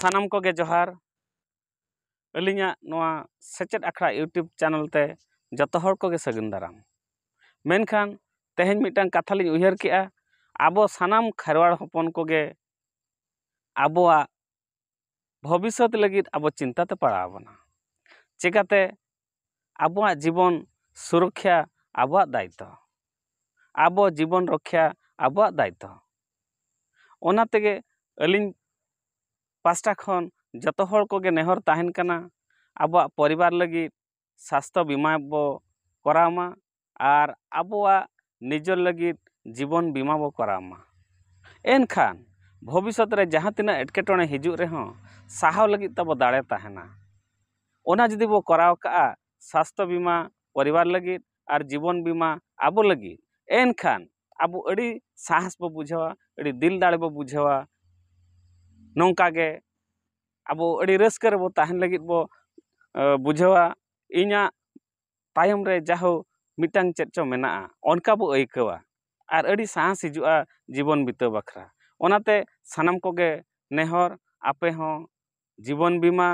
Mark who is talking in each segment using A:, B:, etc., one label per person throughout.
A: ᱥᱟᱱᱟᱢ ᱠᱚᱜᱮ ᱡᱚᱦᱟᱨ ᱟᱹᱞᱤᱧᱟᱜ ᱱᱚᱣᱟ ᱥᱮᱪᱮᱫ ᱟᱠᱷᱲᱟ ᱤᱭᱩᱴᱩᱵᱽ ᱪᱮᱱᱮᱞ ᱛᱮ ᱡᱚᱛᱚ ᱦᱚᱲ ᱠᱚᱜᱮ ᱥᱟᱹᱜᱩᱱ ᱫᱟᱨᱟᱢ ᱢᱮᱱᱠᱷᱟᱱ ᱛᱮᱦᱮᱧ ᱢᱤᱫᱴᱟᱱ ᱠᱟᱛᱷᱟ ᱞᱤᱧ ᱩᱭᱦᱟᱹᱨ ᱠᱮᱜᱼᱟ ᱟᱵᱚ ᱥᱟᱱᱟᱢ ᱠᱷᱮᱨᱣᱟᱲ ᱦᱚᱯᱚᱱ ᱠᱚᱜᱮ ᱟᱵᱚᱣᱟᱜ ᱵᱷᱚᱵᱤᱥᱥᱚᱛ ᱞᱟᱹᱜᱤᱫ ᱟᱵᱚ ᱪᱤᱱᱛᱟᱹ ᱛᱮ ᱯᱟᱲᱟᱣ ᱵᱚᱱᱟ ᱪᱤᱠᱟᱹᱛᱮ ᱟᱵᱚᱣᱟᱜ ᱡᱤᱵᱚᱱ ᱥᱩᱨᱚᱠᱠᱷᱟ ᱟᱵᱚᱣᱟᱜ ᱫᱟᱭᱤᱛᱛᱚ ᱟᱵᱚ ᱡᱤᱵᱚᱱ ᱨᱚᱠᱠᱷᱟ ᱟᱵᱚᱣᱟᱜ ᱫᱟᱭᱤᱛᱛᱚ ᱚᱱᱟ ᱛᱮᱜᱮ ᱟᱹᱞᱤᱧ ᱯᱟᱥᱴᱟ ᱠᱷᱚᱱ ᱡᱚᱛᱚ ᱦᱚᱲ ᱠᱚᱜᱮ ᱱᱮᱦᱚᱨ ᱛᱟᱦᱮᱱ ᱠᱟᱱᱟ ᱟᱵᱚᱣᱟᱜ ᱯᱚᱨᱤᱵᱟᱨ ᱞᱟᱹᱜᱤᱫ ᱥᱟᱥᱛᱷᱚ ᱵᱤᱢᱟ ᱵᱚ ᱠᱚᱨᱟᱣ ᱢᱟ ᱟᱨ ᱟᱵᱚᱣᱟᱜ ᱱᱤᱡᱮᱨ ᱞᱟᱹᱜᱤᱫ ᱡᱤᱵᱚᱱ ᱵᱤᱢᱟ ᱵᱚᱱ ᱠᱚᱨᱟᱣ ᱢᱟ ᱮᱱᱠᱷᱟᱱ ᱵᱷᱚᱵᱤᱥᱥᱚᱛ ᱨᱮ ᱡᱟᱦᱟᱸ ᱛᱤᱱᱟᱹᱜ ᱮᱴᱠᱮᱴᱚᱬᱮ ᱦᱤᱡᱩᱜ ᱨᱮᱦᱚᱸ ᱥᱟᱦᱟᱣ ᱞᱟᱹᱜᱤᱫ ᱛᱟᱵᱚ ᱫᱟᱲᱮ ᱛᱟᱦᱮᱱᱟ ᱚᱱᱟ ᱡᱩᱫᱤ ᱵᱚᱱ ᱠᱚᱨᱟᱣ ᱠᱟᱜᱼᱟ ᱥᱟᱥᱛᱷᱚ ᱵᱤᱢᱟ ᱯᱚᱨᱤᱵᱟᱨ ᱞᱟᱹᱜᱤᱫ ᱟᱨ ᱡᱤᱵᱚᱱ ᱵᱤᱢᱟ ᱟᱵᱚ ᱞᱟᱹᱜᱤᱫ ᱮᱱᱠᱷᱟᱱ ᱟᱵᱚ ᱟᱹᱰᱤ ᱥᱟᱦᱚᱥ ᱵᱚᱱ ᱵᱩᱡᱷᱟᱹᱣᱟ ᱟᱹᱰᱤ ᱫᱤᱞ ᱫᱟᱲᱮ ᱵᱚᱱ ᱵᱩᱡᱷᱟᱹᱣᱟ ᱱᱚᱝᱠᱟ ᱜᱮ ᱟᱵᱚ ᱟᱹᱰᱤ ᱨᱟᱹᱥᱠᱟᱹ ᱨᱮᱵᱚᱱ ᱛᱟᱦᱮᱱ ᱞᱟᱹᱜᱤᱫ ᱵᱚᱱ ᱵᱩᱡᱷᱟᱹᱣᱟ ᱤᱧᱟᱹᱜ ᱛᱟᱭᱚᱢ ᱨᱮ ᱡᱟᱦᱳ ᱢᱤᱫᱴᱟᱝ ᱪᱮᱫ ᱪᱚᱝ ᱢᱮᱱᱟᱜᱼᱟ ᱚᱱᱠᱟ ᱵᱚᱱ ᱟᱹᱭᱠᱟᱹᱣᱟ ᱟᱨ ᱟᱹᱰᱤ ᱥᱟᱦᱚᱥ ᱦᱤᱡᱩᱜᱼᱟ ᱡᱤᱵᱚᱱ ᱵᱤᱛᱟᱹᱣ ᱵᱟᱠᱷᱨᱟ ᱚᱱᱟᱛᱮ ᱥᱟᱱᱟᱢ ᱠᱚᱜᱮ ᱱᱮᱦᱚᱨ ᱟᱯᱮ ᱦᱚᱸ ᱡᱤᱵᱚᱱ ᱵᱤᱢᱟ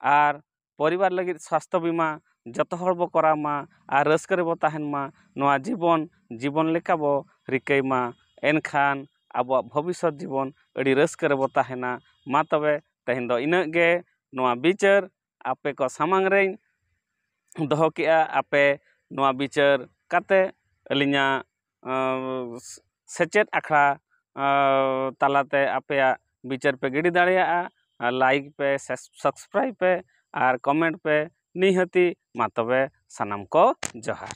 A: ᱟᱨ ᱯᱚᱨᱤᱵᱟᱨ ᱞᱟᱹᱜᱤᱫ ᱥᱟᱥᱛᱷᱚ ᱵᱤᱢᱟ ᱡᱚᱛᱚ ᱦᱚᱲ ᱵᱚᱱ ᱠᱚᱨᱟᱣ ᱢᱟ ᱟᱨ ᱨᱟᱹᱥᱠᱟᱹ ᱨᱮᱵᱚᱱ ᱛᱟᱦᱮᱱ ᱢᱟ ᱱᱚᱣᱟ ᱡᱤᱵᱚᱱ ᱡᱤᱵᱚᱱ ᱞᱮᱠᱟ ᱵᱚᱱ ᱨᱤᱠᱟᱹᱭ ᱢᱟ ᱮᱱᱠᱷᱟᱱ ᱟᱵᱚᱣᱟᱜ ᱵᱷᱚᱵᱤᱥᱥᱚᱛ ᱡᱤᱵᱚᱱ ᱟᱹᱰᱤ ᱨᱟᱹᱥᱠᱟᱹ ᱨᱮᱵᱚᱱ ᱛᱟᱦᱮᱱᱟ ᱢᱟ ᱛᱚᱵᱮ ᱛᱮᱦᱮᱧ ᱫᱚ ᱤᱱᱟᱹᱜ ᱜᱮ ᱱᱚᱣᱟ ᱵᱤᱪᱟᱹᱨ ᱟᱯᱮ ᱠᱚ ᱥᱟᱢᱟᱝ ᱨᱮᱧ ᱫᱚᱦᱚ ᱠᱮᱜᱼᱟ ᱟᱯᱮ ᱱᱚᱣᱟ ᱵᱤᱪᱟᱹᱨ ᱠᱟᱛᱮᱫ ᱟᱹᱞᱤᱧᱟᱜ ᱥᱮᱪᱮᱫ ᱟᱠᱷᱲᱟ ᱛᱟᱞᱟᱛᱮ ᱟᱯᱮᱭᱟᱜ ᱵᱤᱪᱟᱹᱨ ᱯᱮ ᱜᱤᱰᱤ ᱫᱟᱲᱮᱭᱟᱜᱼᱟ ᱟᱨ ᱞᱟᱭᱤᱠ ᱯᱮ ᱥᱟᱵᱥᱠᱨᱟᱭᱤᱵᱽ ᱯᱮ ᱟᱨ ᱠᱚᱢᱮᱱᱴ ᱯᱮ ᱱᱤᱦᱟᱹᱛᱤ ᱢᱟ ᱛᱚᱵᱮ ᱥᱟᱱᱟᱢ ᱠᱚ ᱡᱚᱦᱟᱨ